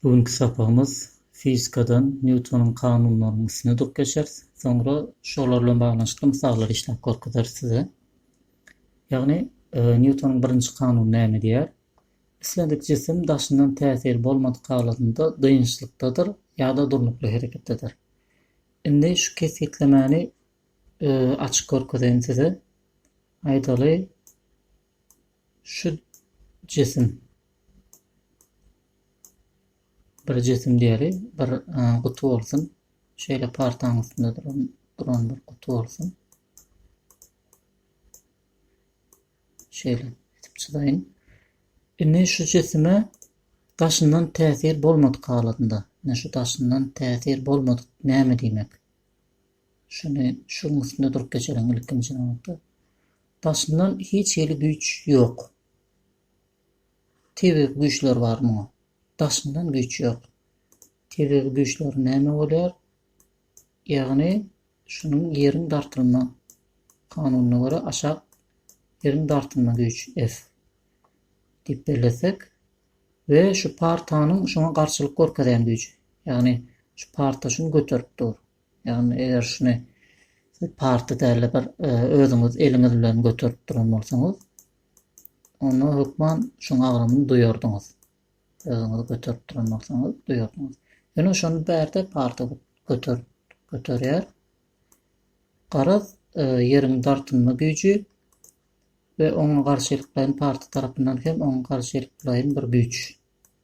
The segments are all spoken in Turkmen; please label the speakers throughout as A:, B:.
A: Bu günki sapagymyz fizikadan Nýutonyň kanunlarynyň üstüne durup geçeris. Soňra şolar bilen baglanyşykly mysallary işläp görkezeris size. Ýagny, e, Nýutonyň birinji kanuny näme diýýär? Islendik jisim daşyndan täsir bolmadyk halatynda dynçlykdadyr ýa-da durnukly hereketdedir. Indi şu kesgitlemäni e, açyp görkezeýin size. Aýdaly, Şu jesim bir jesim diýeli, bir guty bolsun. Şeýle partaň üstünde duran, duran bir guty bolsun. Şeýle edip çyzaýyn. Indi şu jesime daşyndan täsir bolmadyk halatynda, ine şu daşyndan täsir bolmadyk näme diýmek? Şuny şuň üstünde durup geçelim ilkinji nobatda. Daşyndan hiç hili güýç ýok. Tebigy güýçler bar muňa. Daşyndan güýç ýok. Tebigy güýçler näme bolýar? Ýagny şunuň ýeriň dartylma kanunyna görä aşak ýeriň dartylma güýç F diýip bellesek we şu partanyň şuňa garşylyk görkezýän güýji. Ýagny şu parta şuny göterip dur. Ýagny eger şuny siz party däl-de bir özüňiz eliňiz bilen göterip duran bolsaňyz, onda hökman şoň agramyny duýardyňyz. Özüňiz göterip duran bolsaňyz duýardyňyz. Ýöne şony bärde party göter göterýär. Garaz, e, ýeriň dartynma güýji we oňa garşylyklaýyn party tarapyndan hem oňa garşylyklaýyn bir güýç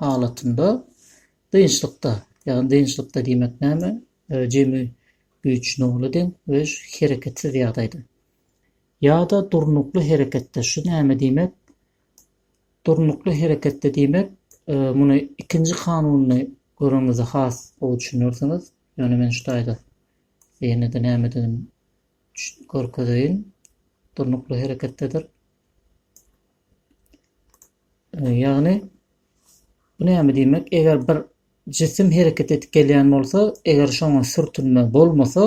A: halatynda dynçlykda, ýagny dynçlykda diýmek näme, jemi güýç nola deň we hereketsiz ýagdaýda, ýa-da durnukly hereketde, şu näme diýmek, durnukly hereketde diýmek, muny ikinji kanunyny göreňizde has gowy düşünersiňiz, ýöne men şu taýda ýene-de nämedigini görkezeýin, durnukly hereketdedir. Ýagny bu näme diýmek, eger bir jisim hereket edip gelýän bolsa, eger şoňa sürtünme bolmasa,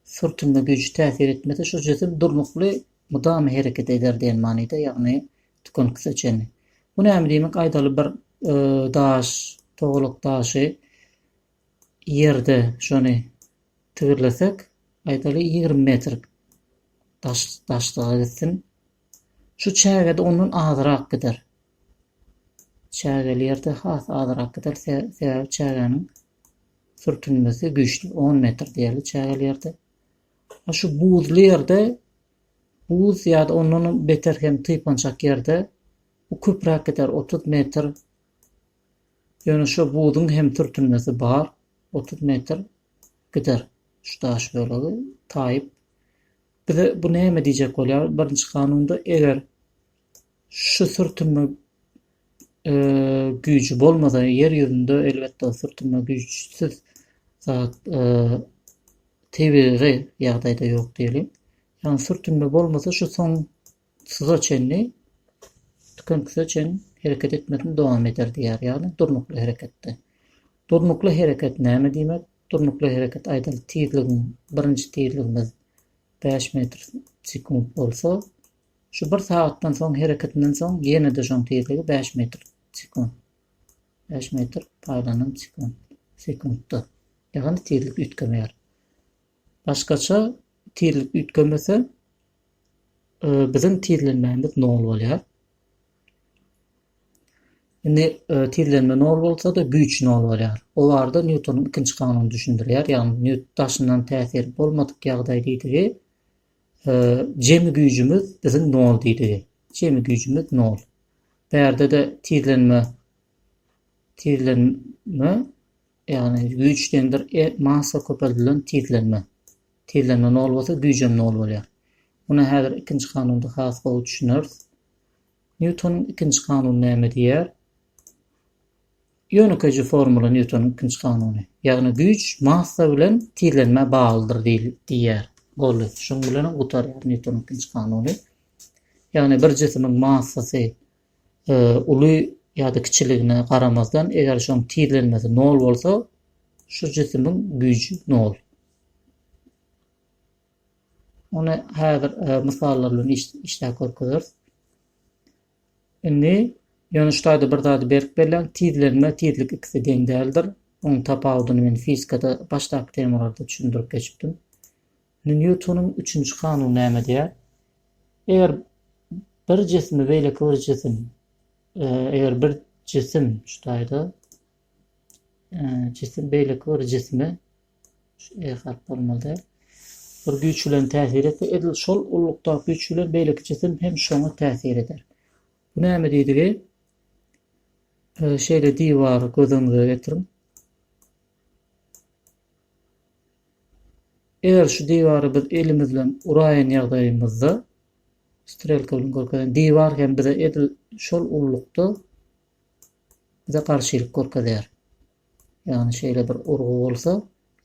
A: sürtünme güýji täsir etmese, şu jisim durnukly mydama hereket eder diýen manyda, ýagny tükeniksize çenli. Bu näme diýmek, aýdaly bir daş, togalak daşy ýerde şony tigirlesek, aýdaly ýigrimi metr daşlyga gitsin, Şu çägede ondan azrak gider. Çägeli ýerde has azrak gider, sebäbi çägäniň sürtünmesi güýçli. On metr diýeli çägeli ýerde. A şu buzly ýerde, buz ýa-da ondan beter hem typançak ýerde bu köpräk gider, otuz metr. Ýöne şu buzuň hem sürtünmesi bar, otuz metr gider şu daş bölegi taýyp. Bize bu näme diýjek bolýar? Birinji kanunda eger şu sürtünme güýji bolmasa, ýer ýüzünde elbetde sürtünme güýçsiz zat tebigy ýagdaýda ýok diýeliň. Ýagny sürtünme bolmasa şu soň suza çenli tükenküse çen hereket etmesini dowam eder diýýär. Ýagny durnukly hereketde. Durnukly hereket näme diýmek? Durnukly hereket aýdaly tizligiň birinji tizligimiz bäş metr sekunt bolsa, şu bir sagatdan soň hereketinden soň ýene-de şoň tizligi bäş metr sekunt. Bäş metr paýlanan sekunt. Sekuntda. Ýagny tizlik üýtgemeýär. Başgaça tizlik üýtgemese, biziň tizlenmämiz nol bolýar. Indi tizlenme nol bolsa-da, güýç nol bolýar. O barada Nýutonyň ikinji kanuny düşündirýär. Ýagny Nýut daşyndan täsir bolmadyk ýagdaý diýdigi, jemi güýjümiz biziň nol diýdigi. Jemi güýjümiz nol. Bärde-de tizlenme tizlenme, ýagny güýç deňdir e massa köpeldilen tizlenme. Tizlenme nol bolsa, güýjem nol bolýar. Muny häzir ikinji kanunda has gowy düşüneris. Nýutonyň ikinji kanuny näme diýýär? Ýönekeýje formula Nýutonyň ikinji kanuny. Ýagny güýç massa bilen tizlenmä baglydyr diýýär. Boldy. Şunuň bilenem gutarýar Nýutonyň ikinji kanuny. Ýagny bir jisimiň massasy uly ýa-da kiçiligine garamazdan, eger şoň tizlenmesi nol bolsa, şu jisimiň güýji nol. Ony häzir mysallar bilen işläp görkezeris. Indi ýöne şu taýda bir zady berk belläň, tizlenme, tizlik ikisi deň däldir. Onuň tapawudyny men fizikada başdaky temalarda düşündirip geçipdim. Indi Nýutonyň üçünji kanuny näme diýýär? Eger bir jisimi beýleki bir jisim, e, eger bir jisim şu taýda e, jisim beýleki bir jisime Şeýle-de bir güýç bilen täsir et we edil şol ululykdaky güýç bilen beýleki jisim hem şoňa täsir eder. Bu näme diýdigi? Şeýle diwary göz öňüňize getiriň. Eger şu diwary biz elimiz bilen uraýan ýagdaýymyzda, strelka bilen görkezen diwar hem bize edil şol ululykda bize garşylyk görkezýär. ýagny şeýle bir urgy bolsa,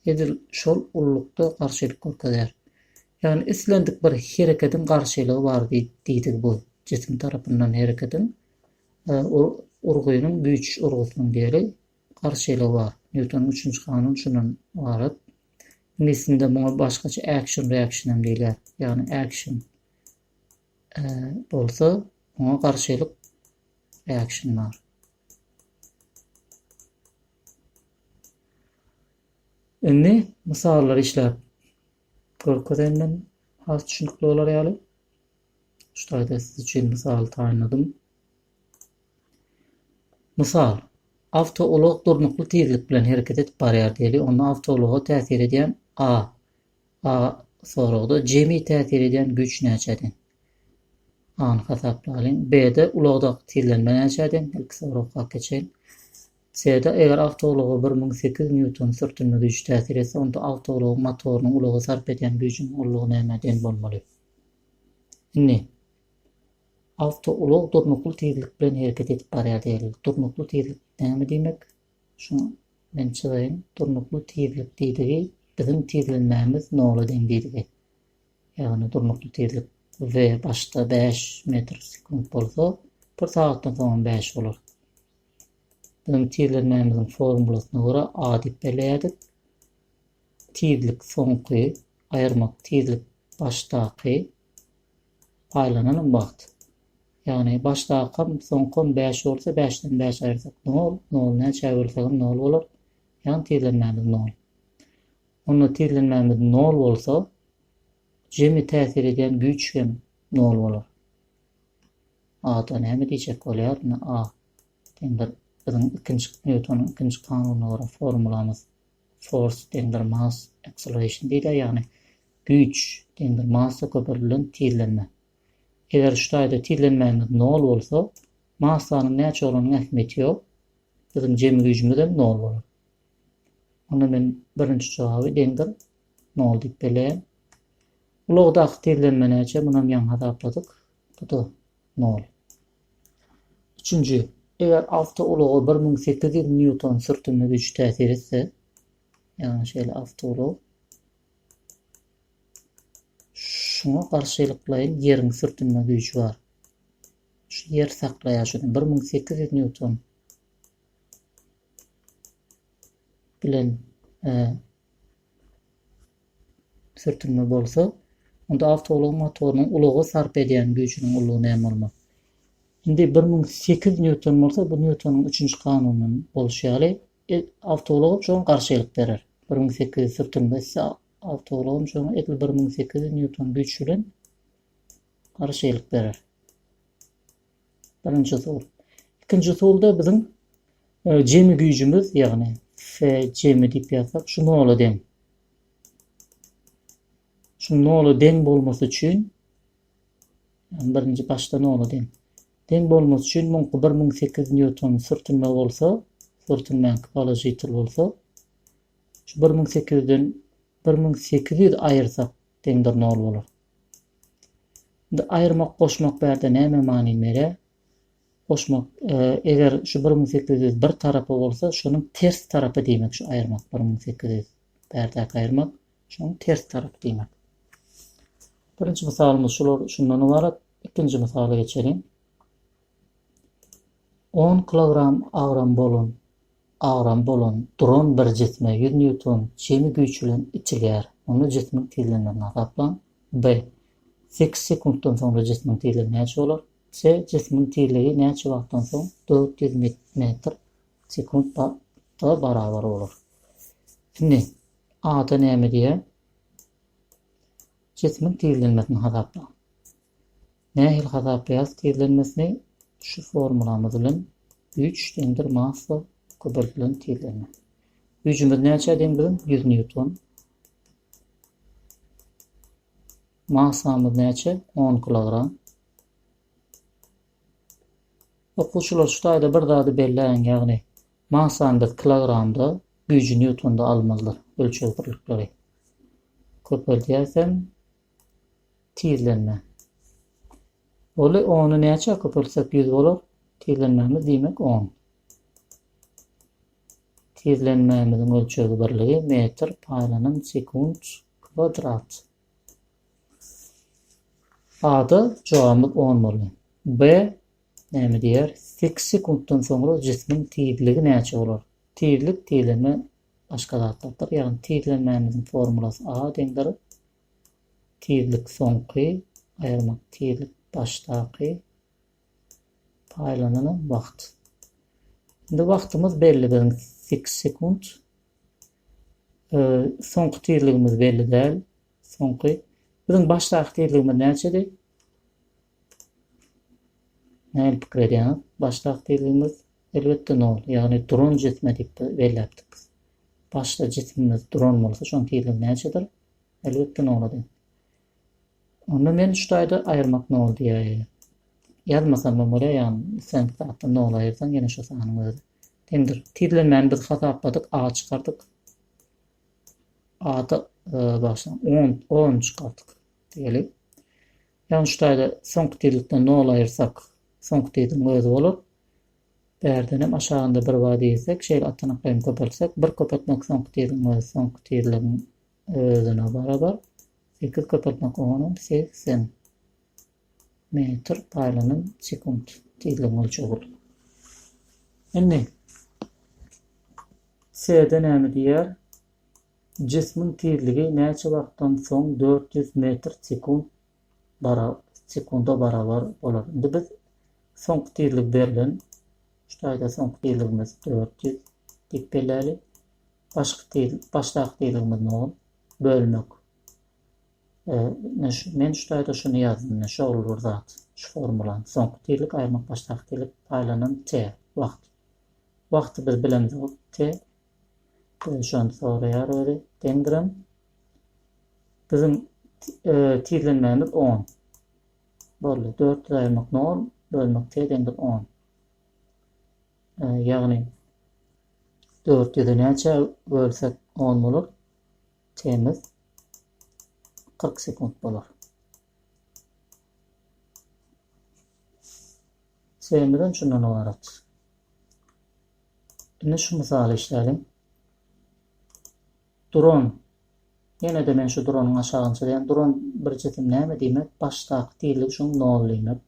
A: edil şol ululykda garşylyk görkezýär. Ýagny islendik bir herekediň garşylygy bar diýdigi bu, jisim tarapyndan herekediň, urgynyň, güýç urgusynyň diýeli, garşylygy bar. Nýutonyň üçünji kanuny şundan ybarat. Iňlis dilinde muňa başgaça action reaction hem diýilýär. Ýagny action bolsa, oňa garşylyk reaction bar. Indi mysallary işläp görkezeýin men has düşünikli bolar ýaly. Şu taýda siz üçin mysal taýynladym. Mysal, awtoulag durnukly tizlik bilen hereket edip barýar diýeli, onda awtoulaga täsir edýän A. A soragda jemi täsir edýän güýç näçe deň? Sany hasaplalyň. B-de ulagdaky tizlenme näçedi? Ilki soragka geçeýin. C-de eger awtoulaga bir müň sekiz nýuton sürtünme güýji täsir etse, onda awtoulagyň motorynyň ulaga sarp edýän güýjüniň ullugy nämä deň bolmaly? Indi, awtoulag durnukly tizlik bilen hereket edip barýar diýeliň. Durnukly tizlik näme diýmek? Şuňa men çyzaýyn. Durnukly tizlik diýdigi biziň tizlenmämiz nola deň diýdigi. Ýagny durnukly tizlik v başda bäş metr sekunt bolsa, bir sagatdan soň hem bäş bolar. Biziň tizlenmämiziň formulasyna görä a diýip belleýärdik. Tizlik soňky aýyrmak tizlik başdaky paýlanan wagt. Ýagny başdakam, soňkam bäş bolsa, bäşden bäş aýyrsak nol, nol näçä bölsegem nol bolar. Ýagny tizlenmämiz nol. Onda tizlenmämiz nol bolsa, jemi täsir edýän güýç hem nol bolar. A-da näme diýjek bolýar? Indi A deňdir biziň ikinji Nýutonyň ikinji kanunyna görä formulamyz force deňdir mass acceleration diýdi, ýagny güýç deňdir massa köperdilden tizlenme. Eger şu taýda tizlenmämiz nol bolsa, massanyň näçe bolanyň ähmiýeti ýok, biziň jemi güýjümiz hem nol bolar. Onda men birinji jogaby deňdir nol diýip belleýän. Ulagdaky tizlenme näçe? Munam ýaňy hasapladyk. Bu-da nol. Üçünji, eger awtoulaga bir müň sekiz ýüz nýuton sürtünme güýji täsir etse, ýagny şeýle awtoulag şuňa garşylyklaýyn ýeriň sürtünme güýji bar. Şu ýer saklaýar şuny, bir müň sekiz ýüz nýuton. bilen sürtünme bolsa, onda awtoulagyň motorynyň ulaga sarp edýän güýjüniň ullugy näme bolmaly? Indi bir müň sekiz nýuton bolsa, bu Nýutonyň üçünji kanunyndan bolşy ýaly, awtoulag hem şoňa garşylyk berer. Bir müň sekiz ýüz sürtünme etse, awtoulag hem şoňa edil bir müň sekiz ýüz nýuton güýç bilen garşylyk berer. Birinji usul. Ikinji usulda biziň jemi güýjümiz, ýagny Fe jemi diýip ýazsak, şu nola deň. Şu nola deň bolmasy üçin, ýagny birinji başda nola deň. Deň bolmasy üçin muňky bir müň sekiz ýüz nýuton sürtünme bolsa, sürtünmäňki položitel bolsa, şu bir müň sekiz ýüzden bir müň sekiz ýüz aýyrsak, Deňdir nol bolar. Indi aýyrmak goşmak bärde näme many bere? Goşmak eger şu bir müň sekiz ýüz bir tarapy bolsa şonuň ters tarapy diýmek şu aýyrmak bir müň sekiz ýüz bärdäki aýyrmak şonuň ters tarapy diýmek. Birinji mysalymyz şular şundan ybarat. Ikinji mysala geçeliň. On kilogram agram bolan, agram bolan, duran bir jisme ýüz nýuton jemi güýç bilen itilýär. Onda jismiň tizlenmegini hasaplaň. B. Sekiz sekuntdan soňra jismiň tizligi näçe bolar? C. Jismiň tizligi näçe wagtdan soň dört ýüz metr sekunt wagta barabar bolar? Indi A-da näme diýýär? Jismiň tizlenmesini hasaplaň. Nähili hasaplaýas tizlenmesini şu formulamyz bilen güýç deňdir massa köbeltilen tizlenme. Güýjümiz näçä deň biziň 100 nýuton. Massamyz näçe 10 kilogram. Okuwçylar şu taýda bir zady belläýiň ýagny massany biz kilogramda güýji nýutonda almalydyr ölçeg birlikleri. Köpeldýäsem Tizlenme. Oly ony näçä köpeltsek ýüz bolar, tizlenmämiz diýmek on. Tizlenmämiziň ölçeg birligi metr paýlanan sekunt kwadrat. A-da jogabymyz on boldy. B näme diýýär? Sekiz sekuntdan soňra jismiň tizligi näçe bolar? Tizlik tizlenme Başga zatlardyr. Ýagny tizlenmämiziň formulasy A deňdir tizlik soňky aýyrmak tizlik başdaky paýlanylan wagt. Indi wagtymyz belli biziň six sekunt. Soňky tizligimiz belli däl. Soňky biziň başdaky tizligimiz näçedi? Nähili pikir edýäňiz? Baş takdyrymyz, elbetde, nol, ýagny duran jisme diýip belläpdik biz. Başda jisimimiz duran bolsa, şonuň tizligi näçedir? Elbetde, nola deň. Onda men şu taýda aýyrmak nol diýäýin. Ýazmasam hem bolýar, ýagny islendik zatdan nol aýyrsaň, ýene şu sanyň özi deňdir. Tizlenmäni biz hasapladyk, a çykardyk. A-da, bagyşlaň, on, on çykardyk diýeli. Ýagny şu taýda soňky tizlikden nol aýyrsak, soňky tizigiň özi bolar. Bärden hem aşagynda bir bar diýsek, şeýle atanaklaýyn köpeltsek, bir köpeltmek soňky tizigiň özi, soňky tizligiň özüne barabar, sekiz köpeltmek oňa hem segsen metr paýlanan sekunt tizligiň ölçegi bolar. Indi S-de näme diýýär? Jismiň tizligi näçe wagtdan soň dört ýüz metr sekunt bara sekunda barabar bolar? Indi biz soňky tizligi berlen. Şu taýda soňky tizligimiz dört ýüz diýip belläli. Başky tiz, başdaky tizligimiz nol. Bölmek. E, ine şu, men şu taýda şuny ýazdym, ine şol bir zat, şu formulany. Soňky tizlik aýyrmak başdaky tizlik paýlanan t wagt. Wagty biz bilemizok, t Şony soraýar özi deňdirem. Biziň tizlenmämiz on. Boldy. Dört ýüz aýyrmak nol, bölmek t deňdir on. Ýagny dört ýüzi näçä bölsek on bolar? T-miz kyrk sekunt bolar. Semizem şundan ybarat. Indi şu mysaly işläliň. Duran. Ýene-de men şu duranyň aşagyny çyzýan. Duran bir jisim näme diýmek? Başdaky tizligi şoň nol diýmek.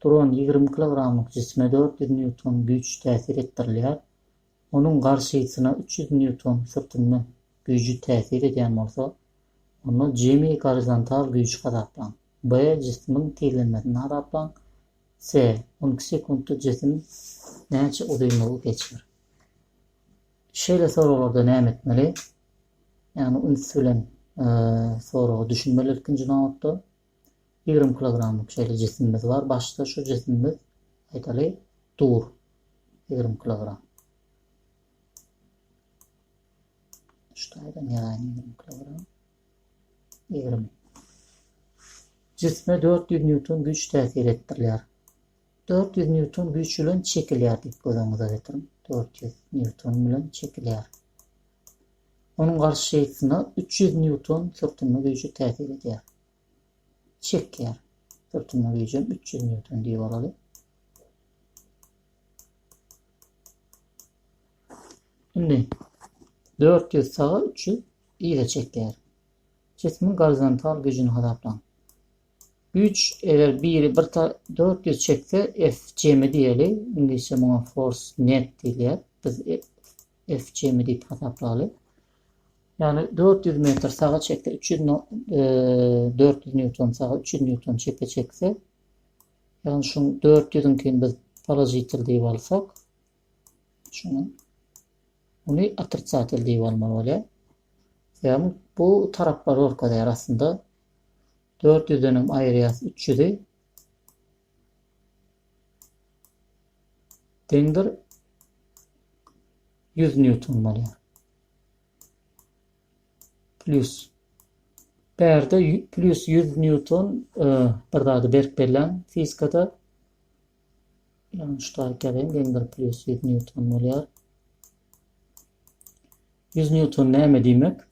A: Duran ýigrimi kilogramlyk jisme dört ýüz nýuton güýç täsir etdirilýär. Onuň garşysyna üç ýüz nýuton sürtünme güýji täsir edýän bolsa, onda jemi gorizontal güýji hasaplaň. B. Jisimiň tizlenmesini hasaplaň. Se. On iki sekuntda jisim näçe uzynlygy geçer? Şeýle soraglarda näme etmeli? Ýagny üns bilen soraga düşünmeli ilkinji nobatda. Ýigrimi kilogramlyk şeýle jisimimiz bar. Başda şu jisimimiz, aýdaly, dur. Ýigrimi kilogram. Şu taýdan ýazaýyn ýigrimi kilogram. Ýigrimi. Jisme dört ýüz nýuton güýç täsir etdirilýär. Dört ýüz nýuton güýç bilen çekilýär diýip göz öňüňize getiriň. Dört ýüz nýuton bilen çekilýär. Onuň garşysyna üç ýüz nýuton sürtünme güýji täsir edýär. Çekýär. Sürtünme güýjem üç ýüz nýuton diýip alaly. Indi dört ýüz saga üç ýüz yza çekýär. Jismiň gorizontal güýjüni hasaplaň. Güýç eger biri bir dört ýüz çekse F jemi diýeli. Iňlisçe muňa force net diýilýär. Biz F jemi diýip hasaplaly. Ýagny dört ýüz metr saga çekse, üç ýüz dört ýüz nýuton saga, üç ýüz nýuton çepe çekse, ýagny şuň dört ýüzüňkini biz položitel diýip alsak, şuny muny otricatel diýip almaly bolýar. Ýagny bu taraplar görkezýär aslynda. Dört ýüzdenem aýyrýas üç ýüzi. Deňdir ýüz nýuton bolýar. Plýus. Bärde plýus ýüz nýuton e, bir zady berk bellän fizikada. Ýagny şu taýyk ýazayım, deňdir plýus ýüz nýuton bolýar. 100 newton näme diýmek?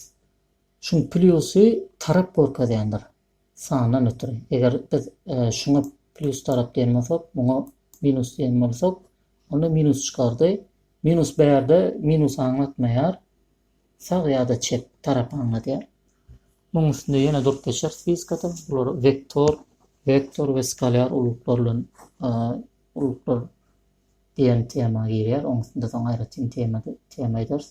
A: Şuň plýusy tarap görkezýändir, sandan ötri. Eger biz şuňa plýus tarap diýen bolsak, muňa minus diýen bolsak, onda minus çykardy. Minus bärde minus aňlatmaýar, sag ýa-da çep tarap aňladýar. Muň üstünde ýene durup geçeris fizikada. Bular wektor, vektor we skalýar ulluklar bilen ulluklar diýen tema girýär. Oň üstünde soň aýratyn tema tema ederis.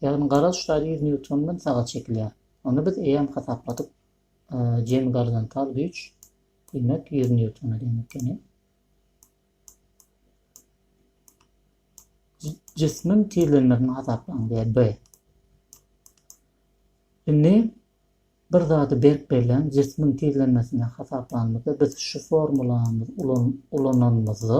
A: Ýagny gara uçdary ýüz nýuton bilen saga çekilýär. Onda biz eýýäm hasapladyk, jemi gorizontal güýç, diýmek, ýüz nýutona deň ekeni. Jismiň tizlenmesini hasaplaň diýýär B. Indi bir zady berk bellän jismiň tizlenmesini hasaplanymyzda biz şu formulamyzy ulananymyzda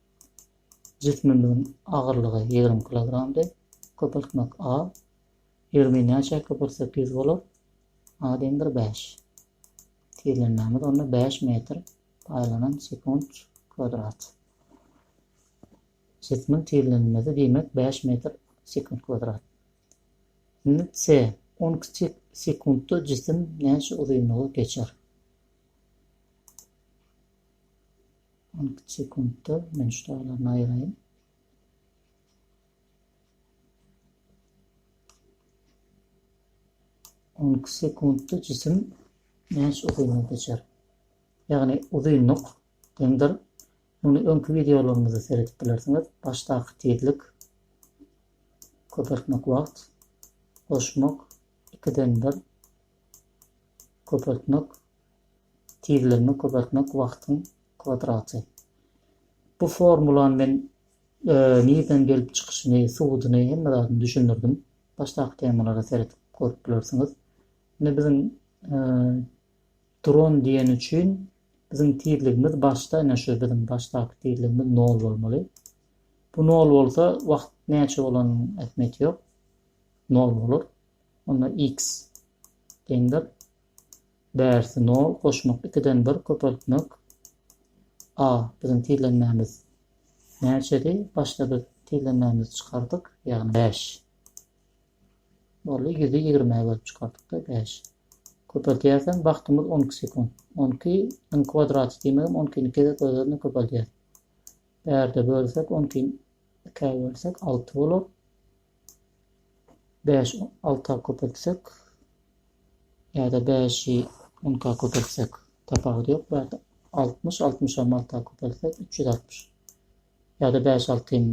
A: Jismimiziň agyrlygy ýigrimi kilogramdy. Köpeltmek A. Ýigrimi näçe köpeltsek ýüz bolar? A deň bir bäş. Tizlenmämiz onda bäş metr paýlanan sekunt kwadrat. Jismiň tizlenmesi diýmek bäş metr sekunt kwadrat. Indi C. On iki sekuntda jisim näçe uzynlygy geçer? On iki sekuntda men şu daglaryny aýyraýyn. On iki sekuntda jisim näçe uzynlygy geçer? Ýagny uzynlyk deňdir. Muny öňki wideolarymyzda seredip bilersiňiz. Başdaky tizlik köpeltmek wagt goşmak ikiden bir köpeltmek Tizlenme köpeltmek wagtyň kwadraty. Bu formulany men nirden gelip çykyşyny, subudyny hemme zadyny düşündirdim. Başdaky temalara seredip görüp bilersiňiz. Indi biziň duran diýen üçin biziň tizligimiz başda ine şu biziň başdaky tizligimiz 0 bolmaly. Bu 0 bolsa wagt näçe bolanyň ähmiýeti ýok. 0 bolar. Onda x deňdir Bärsi nol goşmak ikiden bir köpeltmek a biziň tizlenmämiz näçedi başda biz tizlenmämizi çykardyk ýagny bäş boldy ýüzi ýigrime bölüp çykardykda bäş köpeltýärsen wagtymyz on iki sekunt on iki niň kwadraty diýmegem on ikini gezek öz özüne köpeldýär bärde bölsek on ikini ikä bölsek alty bolar bäş alta köpeltsek ýa-da bäşi onka köpeltsek tapawudy ýok. Bu ýerde altmyş, altmyşam alta köpeltsek üç ýüz altmyş. Ýa-da bäş altym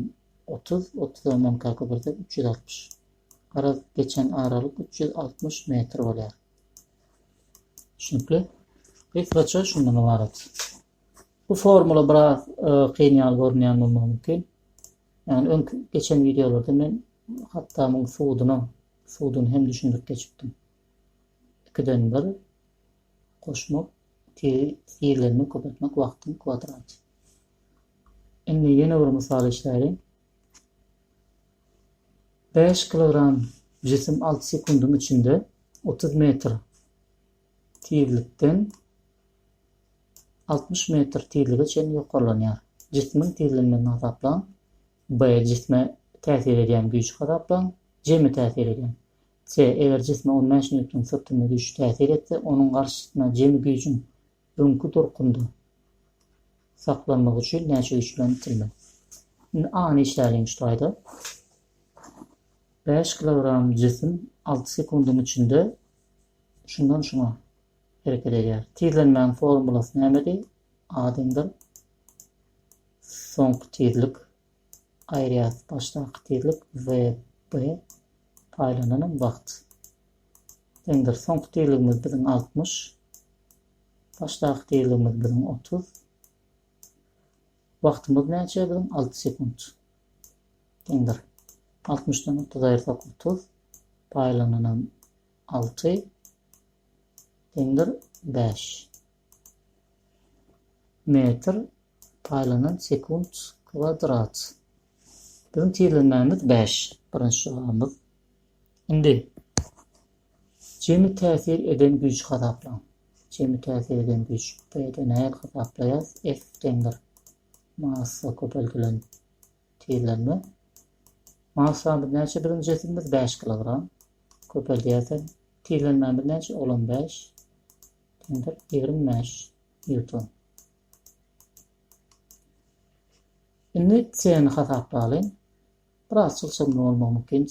A: otuz, otuzam onka köpeltsek üç ýüz altmyş. Garaz, geçen aralyk üç ýüz altmyş metr bolýar. Düşünikli? Gysgaça şundan ybarat. Bu formula biraz e, kyn ýaly görünýän bolmagy mümkin. Ýagny öňki geçen wideolarda men Hattamyň suduny suduny hem düşündirip geçipdim. Ikiden bir goşmak tiri tirlenmek köpeltmek wagtyň kwadraty. Indi ýene bir mysal işläliň. 5 kilogram jisim 6 sekundyň içinde 30 metr tizlikden altmyş metr tizlige çenli ýokarlanýar. Jismiň tizligini hasaplaň. B. Jisme täsir edýän güýji hasaplaň. Jemi täsir edýän. C. Eger jisme on bäş nýuton syrtynda güýç täsir etse, onuň garşysyna jemi güýjüň öňki durkunda saklanmagy üçin näçe güýç bilen itilmeli? Indi A-ny işläliň şu taýda. Bäş kilogram jisim alty sekundyň içinde Şundan şuňa hereket edýär. Tizlenmäň formulasy nämedi? Admdir. Soňky tizlik aýyrýas başdaky tizlik vb paýlananam wagt. Deňdir soňky tizligimiz biziň 60. Başdaky tizligimiz biziň 30. Wagtymyz näçe biziň? Alty sekunt. Deňdir. Altmyşdan otuz aýyrsak otuz. Paýlananam alty. Deňdir bäş. Metr paýlanan sekunt kwadrat. Biziň tizlenmämiz bäş. Birinji jogabymyz Indi jemi täsir eden güýji hasaplaň. Jemi täsir eden güýç. Bu ýerde nähili hasaplaýas? F deňdir massa köpeldilen tizlenme. Massamyz näçe biziň jisimimiz? 5 kilogram. Köpeldýärsen tizlenmämiz näçe? Ol hem 5 deňdir 25 newton. Indi C-ni hasaplalyň. biraz çylşyrymly bolmagy mümkin.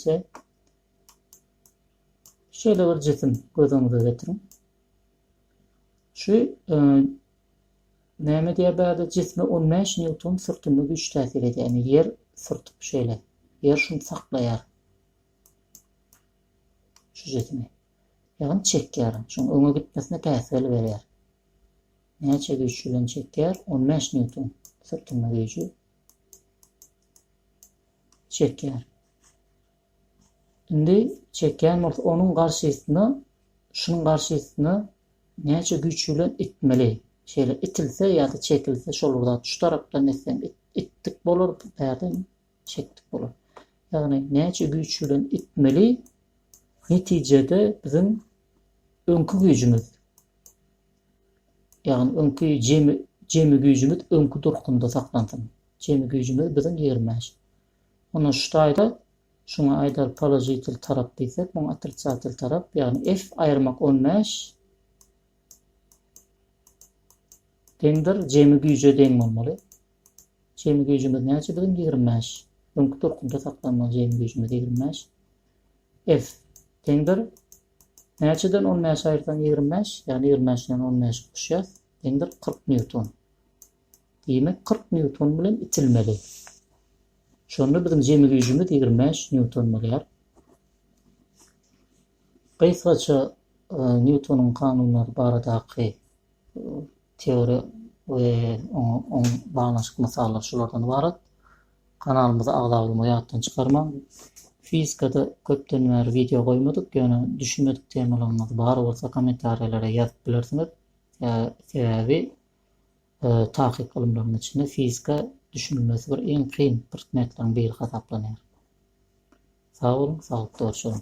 A: Şeýle bir jisim göz öňüňize getiriň. Şu e, näme diýýär bärde jisme 15 newton sürtünme güýç täsir edýär. Ýani ýer sürtüp şeýle. Ýer şuny saklaýar. Şu jismi. Ýagny çekýär. Şuň öňe gitmesine päsgel berýär. Näçe güýç bilen çekýär? 15 newton sürtünme güýji. çekýär. Indi çekýän bolsa onuň garşysyna şunuň garşysyna näçe güýç bilen itmeli. Şeýle itilse ýa-da çekilse şol bir zat. Şu tarapdan itseň itdik bolar, bu ýerden çekdik bolar. Ýagny näçe güýç bilen itmeli netijede biziň öňki güýjümiz Ýagny öňki jemi jemi güýjümiz öňki durkunda saklansyn. Jemi güýjümiz biziň ýigrimi bäş. Onda şu taýda şuňa aýdar položitel tarap diýsek, muňa otrisatel tarap, ýagny f aýyrmak on bäş deňdir jemi güýje deň bolmaly. Jemi güýjümiz näçe biziň ýigrimi bäş. Öňki durkunda saklanmaly jemi güýjümiz ýigrimi bäş. F deňdir Näçeden on bäşi aýyrsaň ýigrimi bäş, ýagny ýigrimi bäşden on bäşi goşýas, deňdir kyrk nýuton. Diýmek kyrk nýuton bilen itilmeli. Şonda biziň jemi güýjümiz ýigrimi bäş nýuton bolýar. Gysgaça Nýutonyň kanunlary baradaky Teoriýa we oňa oň baglanyşykly mysallar şulardan ybarat. Kanalymyza agza bolmagy ýatdan çykarmaň. Fizikada köpden bäri wideo goýmadyk, ýöne düşünmedik temalaryňyz bar bolsa kommentariýalara ýazyp bilersiňiz. Sebäbi takyk ylymlaryň içinde fizika düşünilmesi bir iň kyn prtmetleriň biri hasaplanýar. Sag boluň, saglykda görşeliň.